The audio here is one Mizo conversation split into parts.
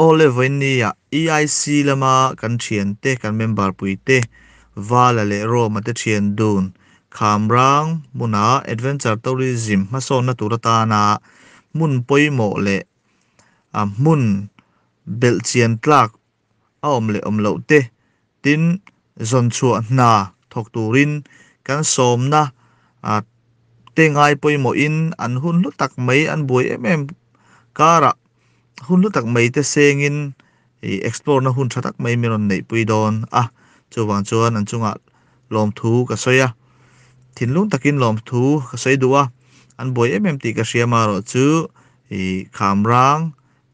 Olive ni a EIC lama kan thian te kan member pui te, Vala leh Roma te thian dun, Khamrang hmuna adventure tourism hmasawnna tur atana hmun pawimawh leh a hmun belhchian tlak a awm leh awm loh te Tin, zawnchhuah hna thawk turin kan sawmna a te ngai pawimawhin an hun hlu tak mai, an buai em em karah hun hlu tak mai te sengin hei explore-na hun tha tak mai min rawn neihpui dawn a, chuvang chuan an chungah lawmthu ka sawi a, thinlung takin lawmthu ka sawi duh a, an buai em em tih ka hria marawh chu hei khamrang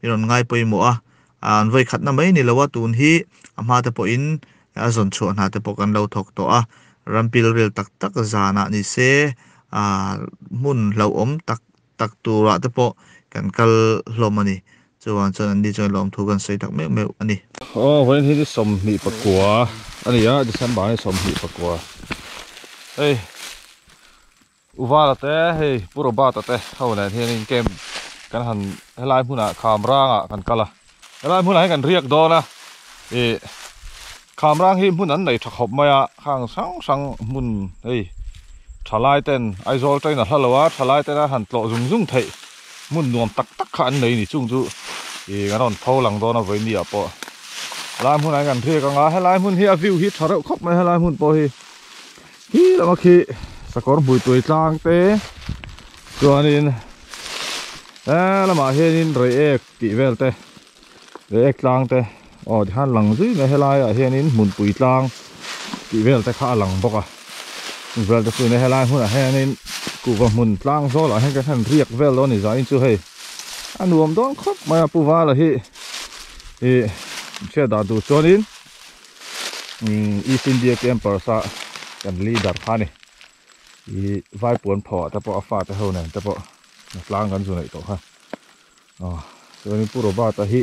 I rawn ngai pawimawh a, an vawi khatna mai ni lo a, tun hi a hma te pawhin a zawn chhuah hna te pawh kan lo thawk tawh a, ram pilril tak tak zanah ni se hmun hlauhawm tak tak turah te pawh kan kal hlawm a ni. Chuvang chuan anni chuan lawm thu kan sawi tak meuh meuh a ni. Aw, vawiin hi chu sawmhnih pakua a ni a, December-ni sawmhnih pakua. Hei. U Vala te hei Pu Robert-a te ho nen hian in camp kan han helai hmunah Khamranga kan kal a, helai hmunah hian kan riak dawn a, ih Khamrang hi hmun an nei tha khawp mai a, khang hrang hrang hmun hei thalai ten Aizawl train a hla lo a, thalai tena han tlawh zung zung theih hmun nuam tak tak kha an nei ni chung chu ih kan rawn pho lang dawn a Vaimia pawh helai hmunah hian kan riak anga, helai hmun hi a view hi tha reuh khawp mai a helai hmun pawh hi Khi lama khi sakawr hmuituai tlang te chuanin he lamah hianin reiek tih vel te reiek tlang te aw ti khan lang zui mai he laiah hianin hmunpui tlang tih vel te kha a lang bawk a chung vel te chu he lai hmunah hianin kuhva hmun tlang zawlah hian ka hre riak vel lo ni zain chu hei a nuam dawn khawp mai a pu vala hi ih hriat dah duh chuanin. East India Campers a kan leader kha ni i vai puan pho te pawh a fa te ho nen te pawh na tlang kan zu neih tawh kha chuan in puro bata hi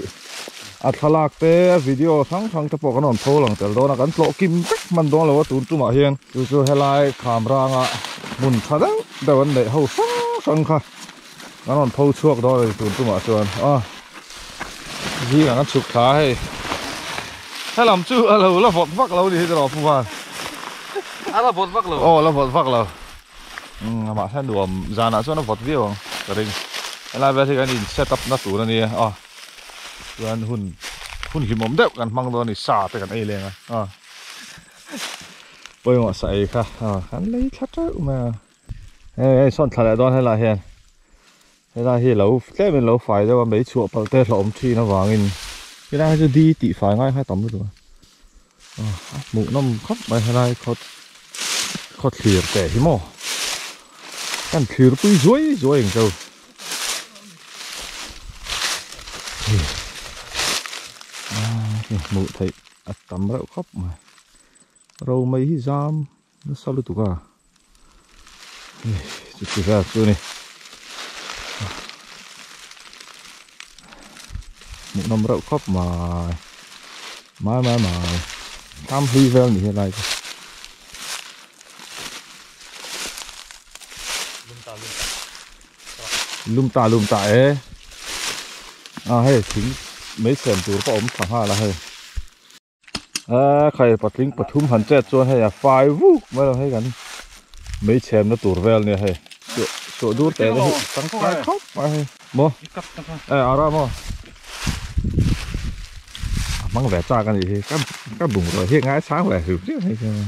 a thlalak te a video hrang hrang te pawh kan rawn pho lang tel dawn a kan tlawh kim vek man dawn lo a tun tumah hian chu chu helai kham ranga hmun tha deuh deuh an neih ho hrang hrang kha Kan rawn pho chhuak dawn a ni tun chungah chuan a zing ang a chhuk thla a hei. Helam chu a lo la vawt vak lo a ni hian rawh Puvan. A la vawt vak lo? Aw a la vawt vak lo. Umm mahse a nuam zanah chuan a vawt viau ang ka ring. Helai vel hi kan in set up na tur a nia a chuan hun hun hlimawm deuh kan hmang dawn a ni, sa te kan ei leng a a. Pawimawh sa ei kha a kan lei thla teuh mai a. Hei hei sawn thla leh dawn hela hian Hela hi lo tlem in lo fai deuh a mei chhuah palh te hlauhawm thin avangin Hela hi chu di tih fai ngai kha tam lutuk a a hmuh nawm khawp mai helai khaw khaw thlir te hi maw kan thlir pui zuai zuai ang chau a hmuh theih a tam reuh khawp mai ro mai hi zam Nasa lutuk a. Chutihlak chu ni. Hmuhnawm reuh khawp mai. Mai mai mai. Hlam hlui vel ni helai chu. Lum ta lum ta e. A hei thing mai sem tur pawh awm thla nghal a hei. Aa khai patling pathum han chet chuan hei a fai vuk mai lo hei kan mei chhemna tur vel nia hei suah suah dur teh te hi tangkai khawp mai hei maw eh ara maw a hmang ve chak a nih hi ka ka bungraw hi a ngaisang ve reuh reuh mai chuan.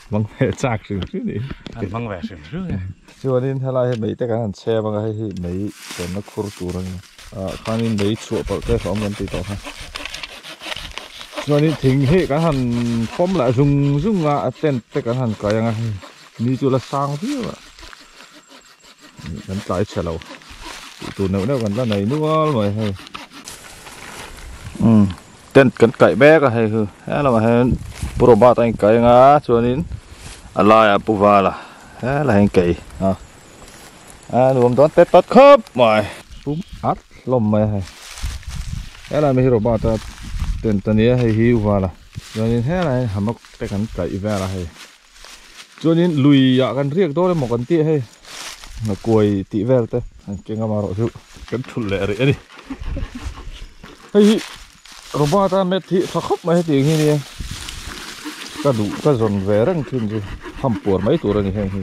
Hmang ve chak hrim hrim ni. An hmang ve hrim hrim ni. Chuanin helai hi mei te kan han chhem anga hei hi mei chhemna khur tur a ni. Ah khanin mei chhuah palh te hlauhawm kan tih tawh kha. Chuanin thing hi kan han pawm lah zung zung a, a tent te kan han kai anga hei mi chu la sang viau a. kan tlai chhe lo tih tur neuh neuh kan la nei nual mai hei umm tent kan kaih mek a hei chu helamah hian pu Robert a in kai anga chuanin a laiah pu Vala hela hian kei a a nuam dawn tep tawt khawp mai pum at hlawm mai a hei hela mi hi Robert a tent a nia hei hi u Vala chuanin hela hian hammock te kan kaih vel a hei. chuanin luiah kan riak dawn emaw kan tih hei kuai tih vel te kan keng a amaherawhchu kan thut leh rih a ni hei hi robot a math hi tha khawp mai hetiang hi nia ka duh ka zawn ve reng thin chu ham puar mai tur a ni heng hi.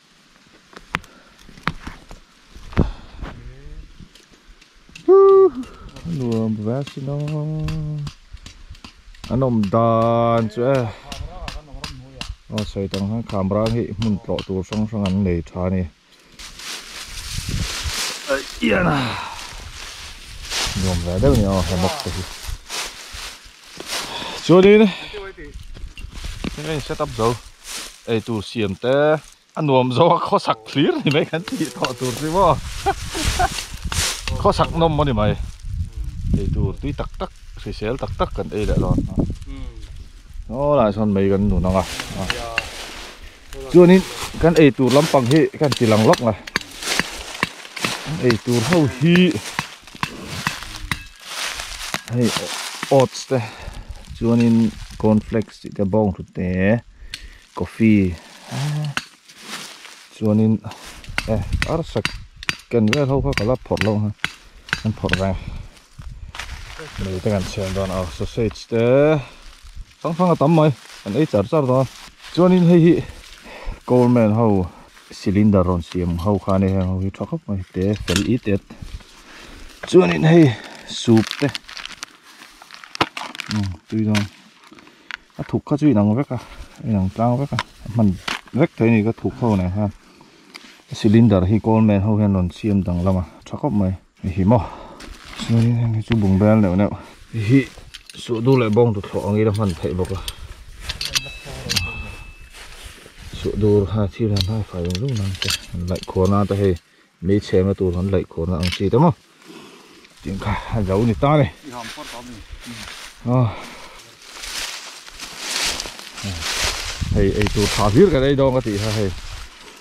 nuam ve a sin a an awm dan chu e aw sawi ta ang hian khamrang hi hmun tlawh tur hrang hrang an nei tha a ni nuam ve deuh a ni aw he mawk te hi. chuanin thil a in set up zo eitur siam te a nuam zo a khawsak thlir ni mai kan tih thawh tur chu maw khawsak nawm a ni mai eitur tui tak tak hrisel tak tak kan ei leh dawn a aw lah sawn mei kan nun ang a. Chuanin kan ei tur lampang hi ka han tilang lawk a, kan ei tur ho hi hei oats te chuanin corn flakes tih te bawng thu te coffee chuanin eh arsa ken vel ho kha ka la phawrh loh ang a, kan phawrh reng. Mei te kan siam dan a sausage te hrang hrang a tam mai kan ei char char dawn a. Chuanin hei hi coal man ho cylinder rawn siam ho khan e heng ho hi tha khawp mai te fel i tet chuanin hei soup te tui dawn a thuk kha chu inang vek a inang tlang vek a a hman vek thei a ni ka thuk ho nen khan cylinder hi coal man ho hian rawn siam dang lam a tha khawp mai. I hi maw chuan hemi chu bungbel neuh neuh i hi suh duh leh bawng duhthlawh ang ila hman theih bawk a suh dur ha thil han hai fai reng reng mai te han laih khuan a ata hei mei chhenga tur han laih khuan a ang chi te maw tin kha a zo ni ta ni aw hei eitur tha hlir kan ei dawnga tih kha hei.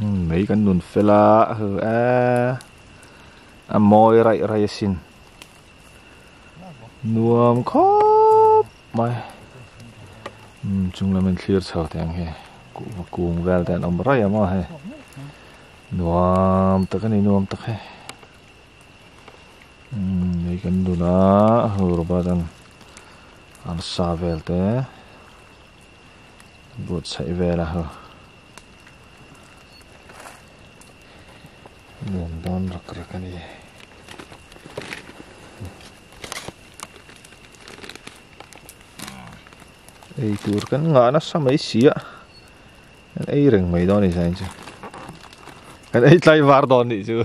Mei kan nun fel a, hư e, a mawi raih raih a sin. Nuam khawp mai. Um, chung lam in thlir chho te ang he. Kung vel te an om raih a maw he. Nuam tak a ni nuam tak he. Um, mei kan nun a, hư robot an. An sa vel te. But saih vel a haw. Nuam dawn rak rak a ni. Ei tur kan ngah nasa mai si a. Kan ei reng mai dawn ni sain chu. Kan ei tlai var dawn ni chu.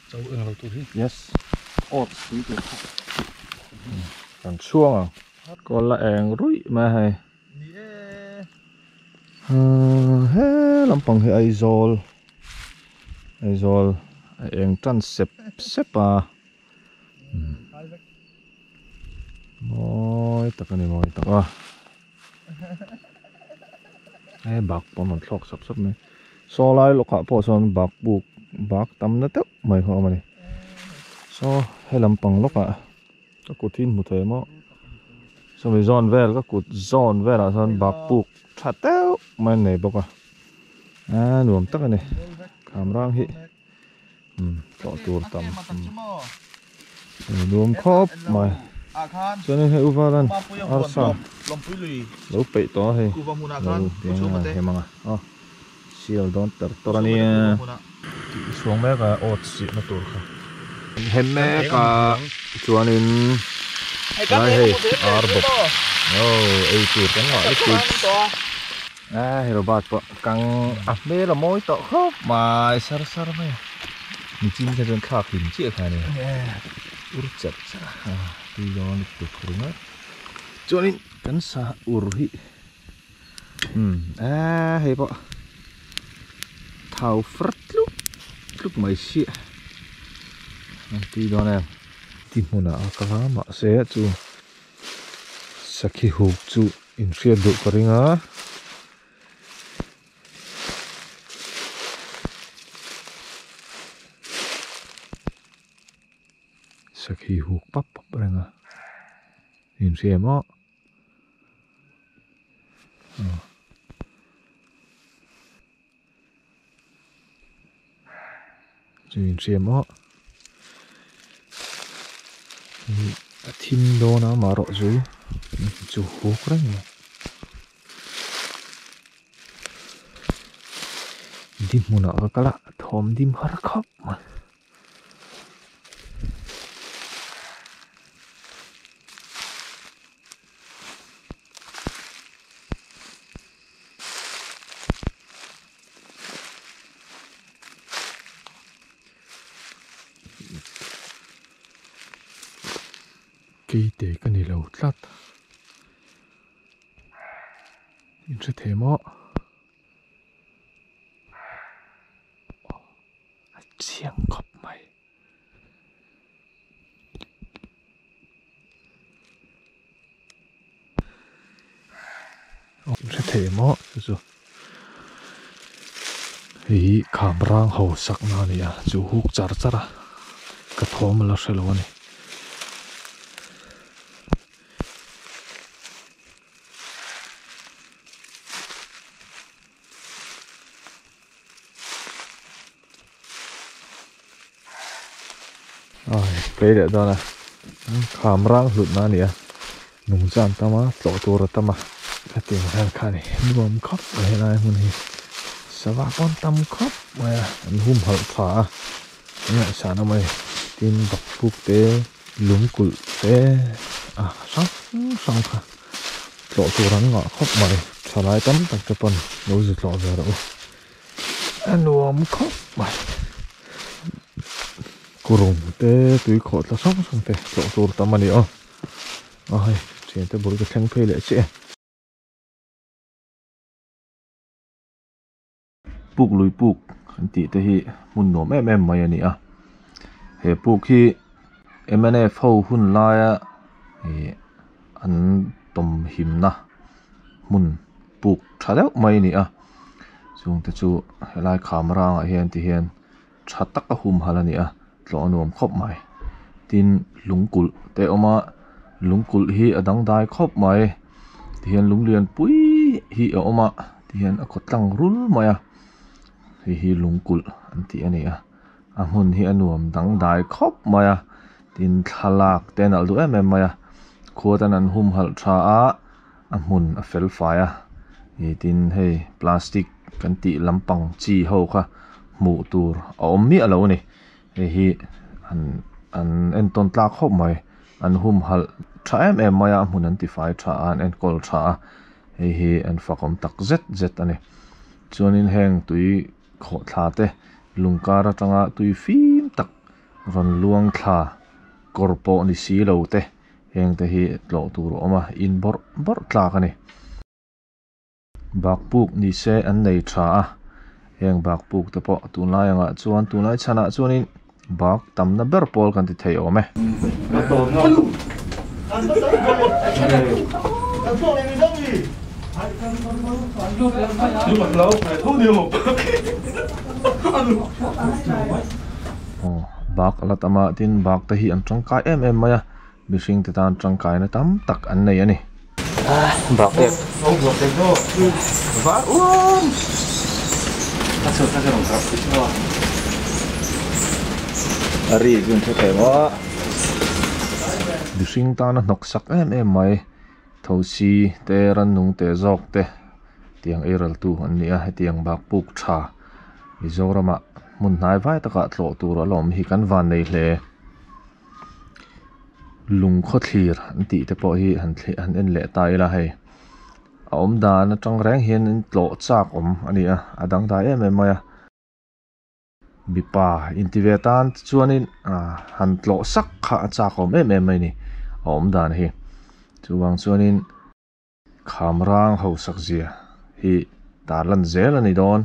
Chau eng lo tur hi. Yes. Oats pui tur kha. Kan chuang ang. Kol la eng ruih mai a hei. Ni e. He lampang hi Aizawl. Aizawl a eng tan sep sep a. Mawi tak a ni mawi tak a. He bak pawn rawn thlawk sap sap mai. Saw lai lawkah pawh chuan bak buk bak tam na teuh mai kha awm a ni. Saw he lam pang lawkah ka kut hi hmu thei maw? Chumi zawn vel ka kut zawn velah chuan bak buk tha teuh mai an nei bawk a. Aa nuam tak a ni. Khamrang hi. Tawh tur tam nuam khawp mai chuan in hei u valan arsa lo peih tawh a hei sial dawn ter ter a nia tih suang mek a oats sihna tur kha an hem mek a chuan in helai hei ar bawk oh ei tur kan ngah lutuk. A he robot pawh kang a hmel a mawi tawh khawp mai sar sar mai a, michin te chuan thlak hlim chiah kha a ni. Ur chap chap a, tui zawnga lut tur kha ringaih. Chuanin kan sa ur hi umm a hei pawh thau far tluk tluk mai si a, an tui zawn em? Ti hmunah a ka la mahse chu sakhi huk chu In hriat duh ka ring a. Sakhi huk pap pap a ring a. In hriat em awh. Aww. Chu in hriam maw? A thim dawn a mah rawh chu. Chu huk reng maw. Dihmunah ka kal a, a thawm dim har khap mai. kei te ka ni lo tlat in hre thei maw. a chiang khawp mai. Awm hre thei emaw chu chu. Hei hi kham rang ho sakna a ni a, chu huk char char a, ka thawm la hrelo a ni. Hlei leh dâwn a khâm râng hlutna a ni a nûng dân tam a tlawh tûr a tam a hetiang hian kha a ni nuam khawp mai a helai hmun hi sava pawh a tam khawp mai a an hum halh thla a an ngaihsâna mai tin bakûkte. Lung kulh te a hrang hrang kha tlawh tur an ngah khawp mai. Thalai tam tak te paw'n lo zi tlawh ve rawh u. A nuam khawp mai. Kurum te tui khawhtla hrang hrang te tlawh tur tam a ni aw. A hei thian te bul ka thleng phei leh che. Puk lui puk an tih te hi hmun nuam em em mai a ni a, he puk hi mnf ho hun laia ihh an tawmhimna hmun puk tha deuh mai a ni a, chungte chu he lai kham rangah hian tihian-- tha tak a hum halh a ni a, tlawh a nuam khawp mai. Tin, lung kulh te awm a, lung kulh hi a dang dai khawp mai. Tihian lung lian pui hi a awm a, tihian a khaw tlang rul mai a, hei hi lung kulh an tih a ni a. A hmun hi a nuam dang dai khawp mai a, tin thlalak te a nalh duh em em mai a. Khua tan an hum halh tha a, A hmun a fel fai a, he tin hei plastic kan tih lampang chi ho kha hmuh tur a awm miah lo a ni. Hei hi an an entawn tlak hawp mai, an hum halh tha em em mai a, a hmun an tifai tha a, an enkawl tha a, hei hi an fakawm tak zet zet a ni. Chuanin heng tui khawh thla te, lung kar atanga tui fim tak rawn luang thla kawr pawh ni si lo te. Heng te hi tlawh tur a awm a, in bawrh bawrh tlak a ni. Bakpuk ni se an nei tha a, heng bakpuk te pawh tunlai angah chuan, tunlai chhanah chuanin bak tamna ber pawl kan ti thei awm e. aw bak a la tam a tin bak te hi an tangkai em em mai a mihring te tan tangkai na tam tak an nei a ni bak te var uamm a ri zun thu thei maw mihring tana hnawk sak em em mai. Thosi te Rannung teh zawk te tiang ei raltu an ni a, hetiang bak puk tha Mizoramah hmun hnai vai takah tlawh tur a lawm hi kan vannei hle. Lung khawthlir an tih te pawh hi han thli han en leh ta ila hei. A awm dan atang reng hian tlawh chak awm a ni a, a dangdai em em mai a. Mipa inti ve tan te chuanin han tlawh sak kha a chak awm em em mai ni a awm dan hi. Chuvang chuanin Khamrang Hosakzia hi ta lan zel a ni dawn.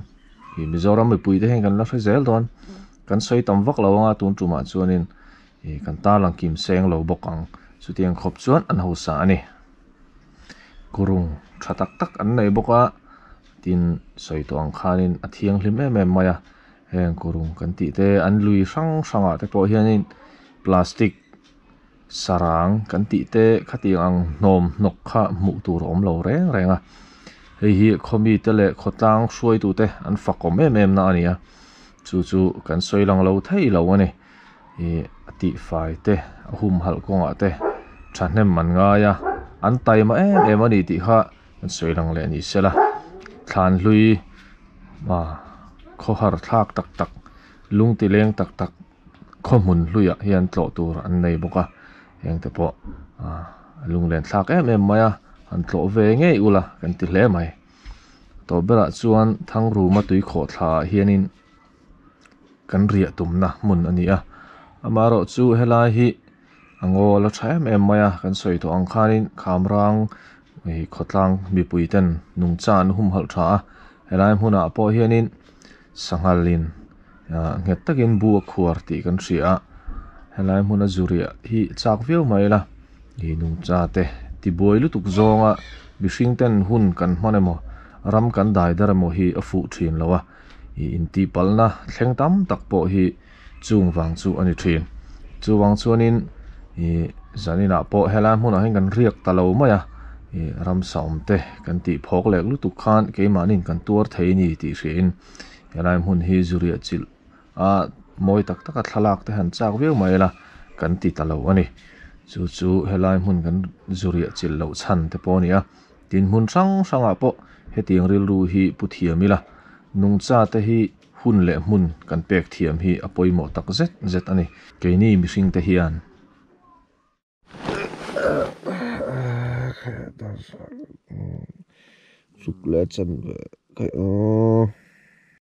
I Mizoram mipui te hian kan la hre zel dawn. Kan sawi tam vak lo anga tun tumah chuanin i kan tarlang kimseng lo bawk ang. Chutiang khawp chuan an hausa a ni. khurung tha tak tak an nei bawk a tin sawi tawh ang khanin a thianghlim em em mai a heng khurung kan tih te an lui hrang hrang ah te pawh hianin plastic sarang kan tih te khati ang hnawm hnawk kha hmuh tur a awm lo reng reng a hei hi khaw mi te leh khaw tlang hruai tute an fak awm em em na a ni a chu chu kan sawi lang lo thei lo a ni. hi a tihfai te a hum halh kawngah te thahnem an ngai a an taima em em a nih tih kha an sawi lang leh ni sela thlan hlui a khaw har thlak tak tak lung ti leng tak tak khaw hmun hluiah hian tlawh tur an nei bawk a hengte pawh ah a lunglen thlak em em mai a han tlawh ve ngei ula kan ti hle mai tawh berah chuan thang ruma tui khawhthla ah hianin-- kan riah tumna hmun a ni a, amaherawh chu helai hi a ngaw la tha em em mai a, kan sawi tawh ang khanin khamrang ih khawtlang mipui ten nungcha an hum halh tha a, helai hmunah pawh hianin sanghal in ah nghet takin bu a khuar tih kan hria a, helai hmuna zu riah hi chak viau mai ila ih nungcha te tibuai lutuk zawnga mihring ten hun kan hman emaw ram kan dai dar emaw hi a fuh thin lo a. ih intihpalna thleng tam tak pawh hi chung vang chu a ni thin chuvang chuanin ih zan inah pawh helai hmunah hian kan riak ta lo mai a ih ramsa awmte kan tih phawk lek lutuk khan keimahni'n kan tuar thei ni tih hriain helai hmun hi zuriahchilh a mawi tak taka thlalak te han chak viau mai ila kan ti ta lo a ni chu chu helai hmun kan zuriahchilh loh chhan te pawh a ni a. Tin, hmun hrang hrangah pawh hetiang rilru hi pu thiam ila, nungchate hi hun leh hmun kan pek thiam hi a pawimawh tak zet zet a ni. Keini mihringte hian Chuk leh a chanve.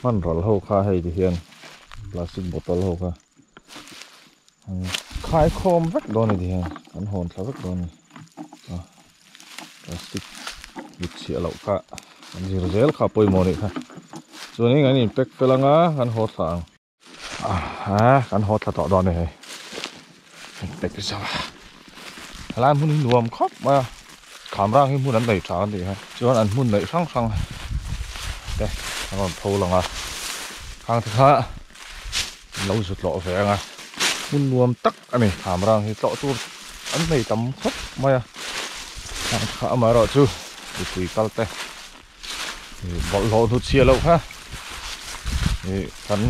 Hmanral ho kha hei te hian plastic bottle ho kha an khai khawm vek dawn ni ti hian an hawn thla vek dawn ni a plastic dik chhiah loh kha an zir zel kha pawimawh nih kha chuan in an in pack fel ang a kan haw thla ang. Ahh kan haw thla tawh dawn e hei. Pek ri zauh a. Helai hmun hi nuam khawp mai a. Khamrang hi hmun an nei tha a ni e. Chuan an hmun neih hrang hrang te a rawn pho lang a. Khang te kha min lo zut lawh ve ang a. Hmun nuam tak a ni Khamrang hi. Tlawh tur an nei tam khawp mai a. Khang te kha amaherawhchu mipui kal te. bawlhhlawh hnu chhia loh kha ih kan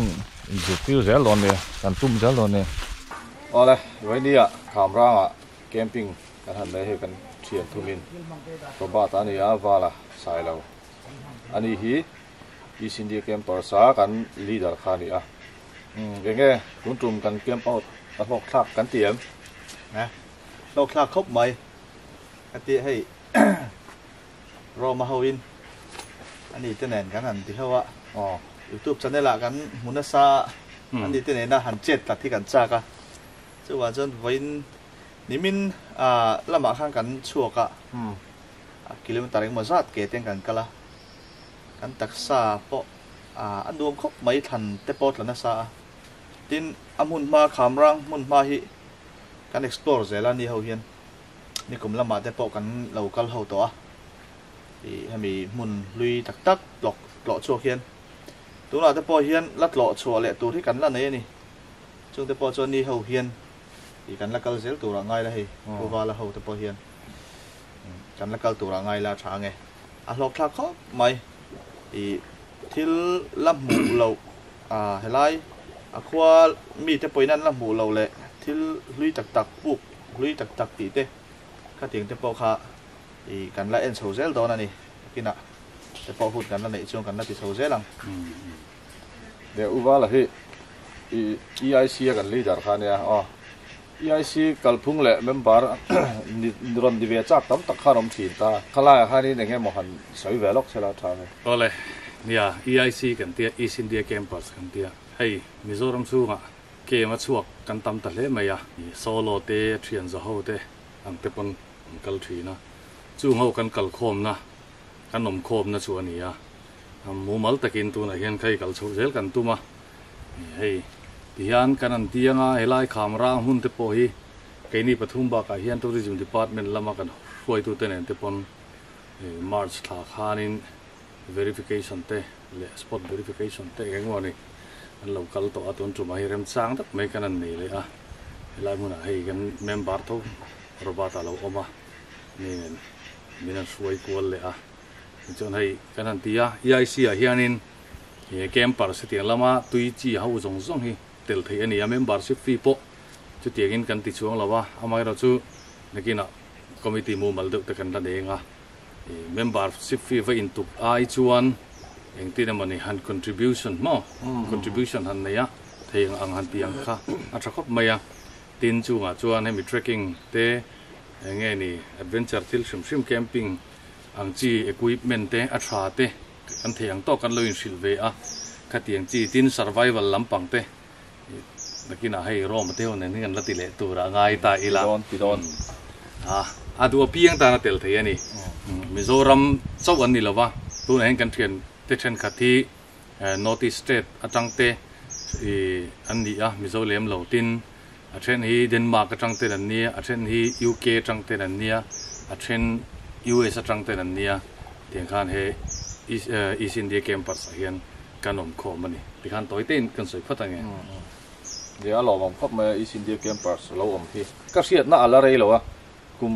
zirtir zel loh ania kan tum zel loh ania. Awle Rania khamranga camping kan han nei hei kan thian thumin Robert-a a nia Vala sailo a ni hi East India Campers-a kan leader kha a ni a, umm eng nge tun tum kan camp out a hlawk thlak kan ti em? Hnga hlawk thlak khawp mai ka ti hei Roma hoin ani te nen kan han ti hlo a. Aw. Youtube channel ah kan hmu nasa a, ani te nena han chat tlat hi kan chak a. Chuvang chuan vawiin nimin lamah khan kan chhuak a, a kilometer engemaw zat ke ten kan kal a, kan taksa pawh a nuam khawp mai thlan te pawh tla nasa a. Tin a hmunhma Khamrang hmunhma hi kan explore zel a ni ho hian. Nikum lamah te pawh kan lo kal ho tawh a, hemi hmun hlui tak tak tlawk tlawh chhuak hian tunah te pawh hian la tlawh chhuah leh tur hi kan la nei a ni. Chung te pawh chuan ni ho hian kan la kal zel turah ngai la hei, Khawvala ho te pawh hian kan la kal turah ngai la tha nge. A hlawkthlak khawp mai, thil la hmuh loh helai a khua mite pawhin an la hmuh loh leh thil hlui tak tak puk Hlui tak tak tih te, khatiang te pawh kha ih kan la en chho zel dawn a ni. Takinah te pawh hun kan la neih chuan kan la ti chho zel ang. Leh u vala hi ih EIC a kan leader kha a nia aw. EIC kalphung leh member ni rawn ni ve chak tam tak khan awm thin ta. Khalaia khanin eng nge maw han sawi ve lawk se la tha nge. Awle nia, EIC kan tia, East India Campus kan tia. Hei Mizoram chhungah Game a chhuak kan tam ta hle mai a, solo te a thian za ho te ang te pawn an kal thin a, chung ho kan kal khawmna, kan awm khawmna chu a ni a, mumal takin tunah hian kha i kal chhoh zel kan tum a, hei tihian kan han ti anga helai kham rang hmun te pawh hi keini pathum bakah hian Tourism Department lama kan hruaitute nen te pawn March thla khanin verification te, leh spot verification te eng emaw ni an lo kal tawh a, tun tumah hi remchang tak mai khan an nei leh a, helai hmunah hei kan member tho Robert a lo awm a, hemi nen min han hruai kual leh a, tichuan hei kan han ti a, EIC ah hianin campers hetiang lama tui chi ho zawng zawng hi tel theih a ni a, membership fee pawh chutiangin kan ti chuang lo a, amaherawhchu nakinah committee mumal deuhte kan la neng a, I membership fee va intuk ai chuan engtin emawni han contribution maw? Contribution han nei a, thei ang ang han tih ang kha a tha khawp mai a. Tin chungah chuan hemi trekking te, eng nge ni, adventure thil hrim hrim camping ang chi equipment te, a tha te kan thei ang tawk kan lo inhrilh ve a. Khatiang chi tin survival lampang te. Bikinah hei Rome te ho nen hi kan la ti leh tura a ngai ta ila. Tidawn tidawn. A a du apiang tan a tel thei a ni. Mizoram chauh an ni lo va, tunah hian kan thian te thenkhat hi North East State atang te an ni a, Mizo lem lo. Tin, a then hi Denmark atang ten an nia, a then hi UK atang ten an nia, a then US atang ten an nia. Tiang khan he East India Campers ah hian kan awm khawm a ni ti khan tawitein kan sawi phawt ang e. Nia a lawmawm khawp mai a East India Campers a lo awm hi. Ka hriatna a la rei lo a, kum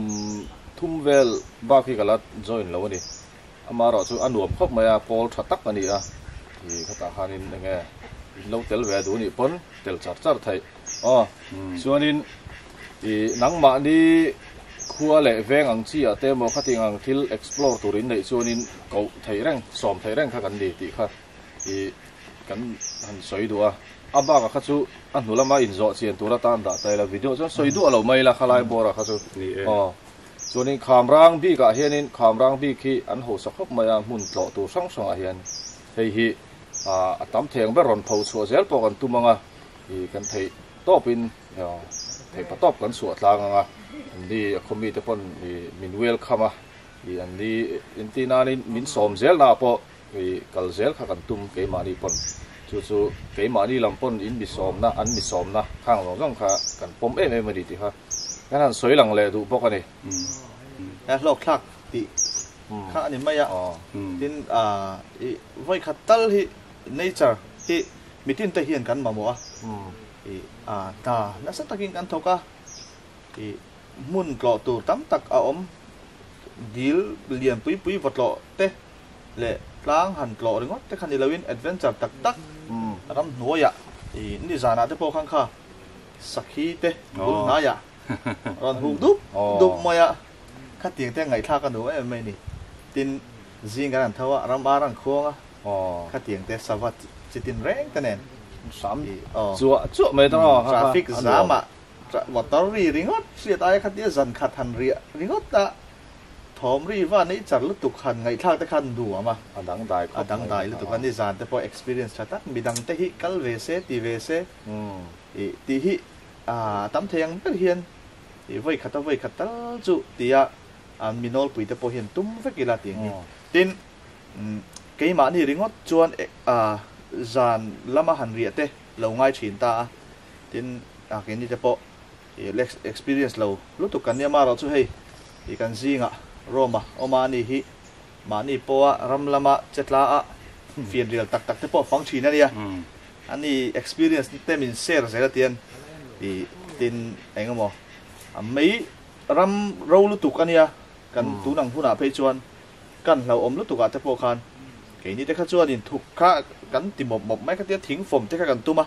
thum vel bak hi ka la join lo a ni. Amah erawh chu a nuam khawp mai a, pawl tha tak a ni a. Khi khatah khanin enge, in lo tel ve a duh anih pawn, tel char char theih. Aw, chuanin i nangmahni khua leh veng ang chi ah te emaw khatin ang thil explore tur in neih chuanin koh theih reng, sawm theih reng kha kan ni tih kha i kan han sawi duh a. A bakah kha chu a hnu lama inzawhchian tur atan dah ta ila video chuan sawi duah lo mai ila khalai bawrah kha chu. Aw, chuanin Khamrang bik ah hianin Khamrang bik hi an hausa khawp mai a, hmun tlawh tur hrang hrangah hian hei hi a tam theng ber rawn pho chhuah zel pawh kan tum ang a, Hi kan theih tawpin theih pa tawp kan suah tlang ang a, ni a khaw mite pawn min welcome a, an ni entir nanin min sawm zel naah pawh kal zel kha kan tum keimahni pawn, chu chu keimahni lam pawn in misawmna, an misawmna khang zawng zawng kha kan pawm em em a ni tih kha kan han sawi lang leh duh bawk a ni. He hlawkthlak tih kha a ni mai a, tin i vawikhat tal hi Nature hi mitin te hian kan mamawh a, ih a hna nasa takin kan thawk a, ih hmun tlawh tur tam tak a awm, dil lian pui pui vawtlawh te leh tlang han tlawh ringawt te kha ni loin adventure tak tak ram hnuaiah, ih nizanah te pawh khan kha sakhi te bul hnaiah. Rawn huk dup dup mai a, khatiang te ngaihthla ka nuh em mai ni. Tin, zing kan han tho a, ram ar an khuang a, khatiang te sava chitin reng te nen. Sam chuah chuah mai ta. Traffic jam ah motor ri ringawt hriat aia khatia zan khat han riah ringawt a, thawm ri va neih char lutuk han ngaihthlak te khan nuam a. A dang dai khawp mai. A dang dai lutuk a ni, zan te pawh experience tha tak, midang te hi kal ve se ti ve se. Tih hi Aaa tam thei ang ber hian i vawi khat a vawi khat tal chu ti a an mi nawl puite pawh hian tum vek ila ti angin tin keimahni ringawt chuan aa zan lama han riah te lo ngai thin ta a tin aa keini te pawh i lex experience lo lutuk kan nia marawh chu hei i kan zinga roma awma ani hi mahni pawha ram lama che tla a fianrial tak tak te pawh fang thin ania Ani experience te min share zel atian i tin eng emaw mei ram ro lutuk ania kan tun ang hunah phei chuan kan hlauhawm lutuk ah te pawh khan keini te kha chuanin thuk kha kan ti mawp mawp mai ka tia thing fawm te kha kan tum a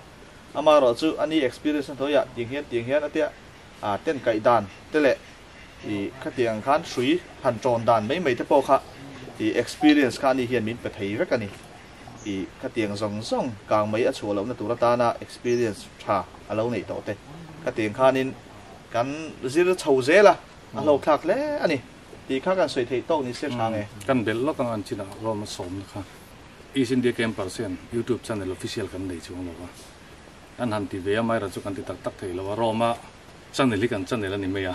ama rawh chu ani experience na hnuaiah tiang hian tiang hian atia a ten kaih dan te leh i khatiang ang khan hrui han tawn dan mai mai te pawh kha i experience kha ani hian min pe thei vek ani. I khatiang zawng zawng kang mai a chhuah lohna tur atana experience tha a lo neih tawh te khatiang khanin kan zir chho zel a, a hlawkthlak hle a ni tih kha kan sawi theih tawk ni se Thang e. Kan belh lawk ang an chin ah Rome a sawmna kha East India Campers hian YouTube channel official kan nei chuang lo a, an han ti ve a Myra chu kan ti tak tak thei lo a, Rome a channel hi kan channel a ni mai a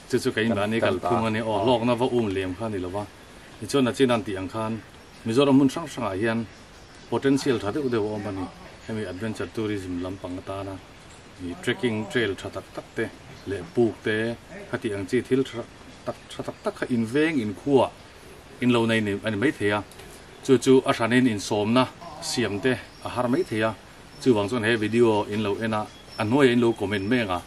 chu chu kei mahni kalphung a ni aw hlawkna va um lem kha a ni lo a. Tichuan a chin a an tih ang khan Mizoram hmun hrang hrangah hian potential tha deuh deuh a awm a ni. Hemi adventure tourism lampang atana ih trekking trail tha tak tak te leh puk te khatih ang chi thil tha tak tha tak tak kha inveng inkhuah in lo nei a ni mai thei a. Chu chu a hranin insawmna siam te a har mai thei a. Chuvang chuan he video in lo en a a hnuaia in lo comment mai ang a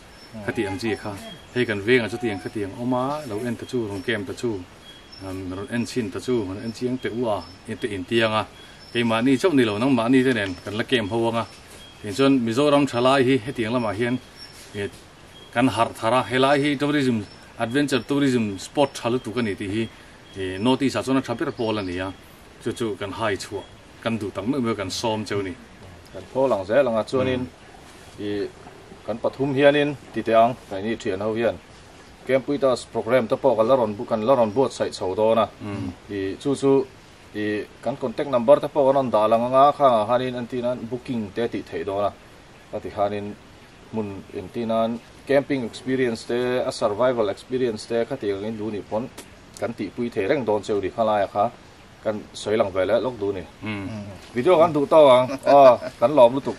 khatih ang chi kha hei kan vengah chuti ang khati ang awm a lo en ta chu rawn kem ta chu. an rawn en chhin ta chu an en chiang teh u a tih in tiang a keimahni chauh nilo nangmahni te nen kan la kem ho ang a tin chuan Mizoram thalai hi hetiang lamah hian e kan harh thar a helai hi tourism adventure tourism spot tha lutuk a ni tih hi e notice ah chuan a tha ber pawl a ni a chu chu kan hai chhuah kan duh tak meuh meuh kan sawm cheu ni kan phawl ang zel ang a chuanin i kan pathum hianin tite ang kaihni thian ho hian Camp with us programme te pawh kan la rawn kan la rawn buatsaih chho dawn a, i chu chu i kan contact number te pawh kan rawn dah lang anga khangah khanin entir nan booking te tih theih dawn a, a ti khanin hmun entir nan camping experience te a survival experience te khati angin duh nih pawn kan tihpui thei reng dawn che u ni khalaia kha kan sawi lang ve leh lawk duh ni. Video kan duh tawh ang, aw kan lawm lutuk.